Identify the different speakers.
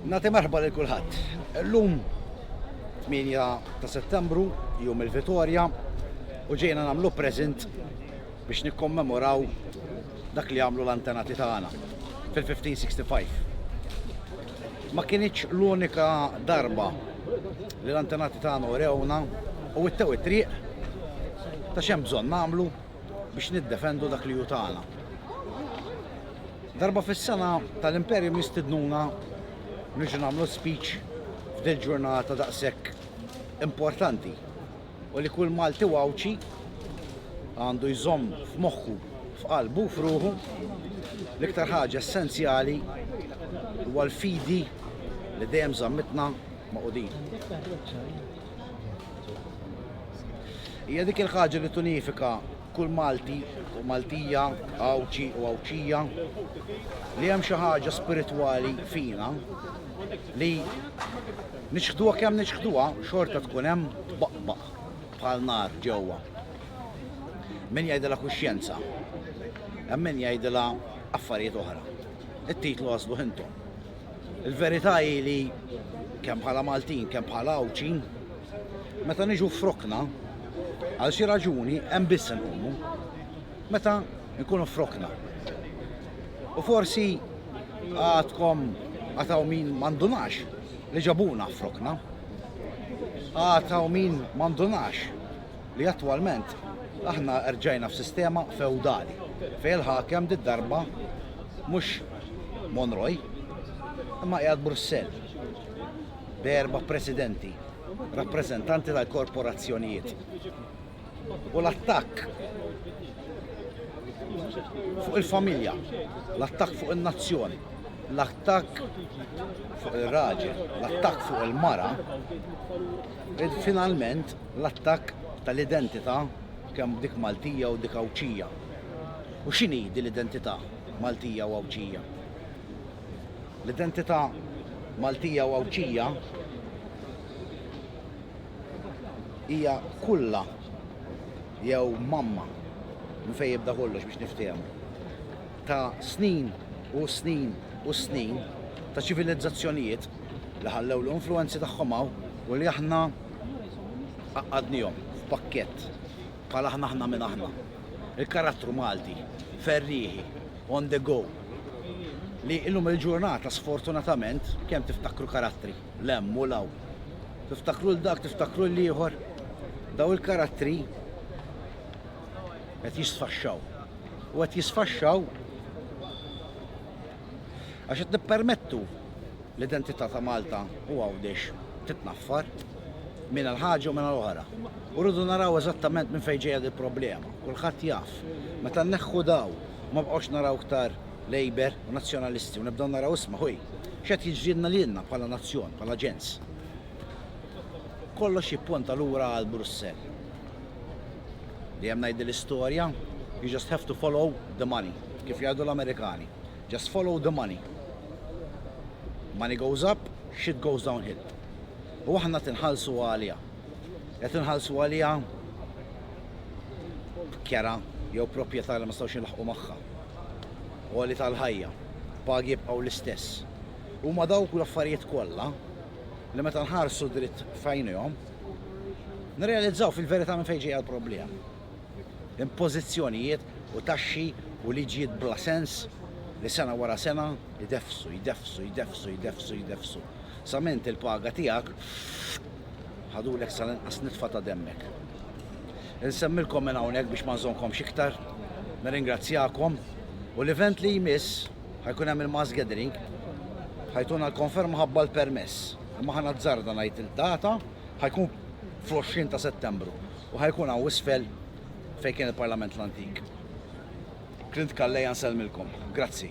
Speaker 1: Nagħti merħba lil kulħadd. Illum 8 ta' Settembru, jum il-Vitorja, u ġejna nagħmlu present biex nikkommemoraw dak li għamlu l-antenati tagħna fil-1565. Ma kienieċ l-unika darba li l-antenati tagħna urewna u it-tew it-triq ta' xem bżonn nagħmlu biex niddefendu dak li hu tagħna. Darba fis-sena tal-Imperium jistidnuna niġu nagħmlu speech f'dil ġurnata daqshekk importanti u li kull Malti wawċi għandu jżomm f'moħħu, f'qalbu, f'ruħu, l-iktar ħaġa essenzjali huwa l-fidi li dejjem żammitna ma' qudin. Hija dik il-ħaġa li tunifika kull Malti u Maltija, Għawdxi u Għawdxija, li hemm xi ħaġa spiritwali fina li niċħduha kemm niċħduha xorta tkun hemm tbaqbaq bħal nar ġewwa. Min jgħidilha kuxjenza, hemm min jgħidilha affarijiet oħra. It-titlu għażlu ħintom. Il-verità hi li kemm bħala Maltin, kemm bħala Għawdxi, meta niġu frokna, għal xi raġuni hemm biss inqumu meta nkunu frokna. U forsi għadkom għataw min mandunax li ġabuna frokna. Għataw min mandunax li attwalment aħna rġajna f'sistema fewdali fejn il-ħakem did-darba mhux Monroy imma qiegħed Brussell b'erba' presidenti rappreżentanti tal-korporazzjonijiet. U l-attakk fuq il-familja, l-attakk fuq in-nazzjon, l-attakk fuq ir-raġel, l-attakk fuq il-mara, finalment L-attakk tal-identità kemm dik Maltija u dik Għawdxija. U x'inhi din l-identità Maltija u Għawdxija? L-identità Maltija u Għawdxija hija kulla jew mamma minn fejn jibda kollox biex niftehmu ta' snin u snin u snin ta' ċivilizzazzjonijiet li ħallew l-influwenzi tagħhom hawn u li aħna Għaqqadnihom f'pakkett bħal aħna aħna min aħna. Il-karattru Malti, ferrieħi, on the go, li illum il-ġurnata sfortunatament kemm tiftakru karattri l-hemm u l-hawn. Tiftakru l-dak, tiftakru l-ieħor. Daw il-karattri qed jisfaxxaw. U qed jisfaxxaw Għax qed nippermettu l-identità ta' Malta u Għawdex titnaffar minn għal ħaġa u minn għal oħra. U rridu naraw eżattament minn fejn ġejja dil-problema. Kulħadd jaf. Meta nneħħu dawn u ma nbqgħux naraw iktar Labour u Nazzjonalisti u nibdew naraw isma' ħuj, x'qed jiġrilna lilna bħala nazzjon, bħala ġens? Kollox jipponta lura għal Brussell. Dejjem ngħidli l-istorja, you just have to follow the money. Kif jgħidu l-Amerikani, just follow the money. Money goes up, shit goes down hill. U aħna qed inħallsu għaliha. Qed inħallsu għaliha kera jew proprjetà li ma stawx nilħqu magħha. Għoli tal-ħajja, pagi jibqgħu l-istess. Huma dawk l-affarijiet kollha li meta nħarsu dritt f'għajnejhom Nirrealizzaw fil-verità minn fejn ġejja l-problema. Impożizzjonijiet u taxxi u liġijiet bla sens li sena wara sena jdeffsu, jdeffsu, jdeffsu, jdeffsu, jdeffsu, sa m'int il-paga tiegħek ħadulek sal-inqas nitfa ta' demmek. Insemmilkom minn hawnhekk biex ma nżommkomx iktar, nirringrazzjakom u l-event li jmiss ħa jkun hemm il-mass gathering ħa jtuna l-konferma ħa b'alt permess. Imma ħa nazzarda ngħid il-data ħajkun fl-20 ta' Settembru u ħajkun hawn isfel fejn kien il-Parlament l-antik. Clint Calleja nsellmilkom. Grazzi.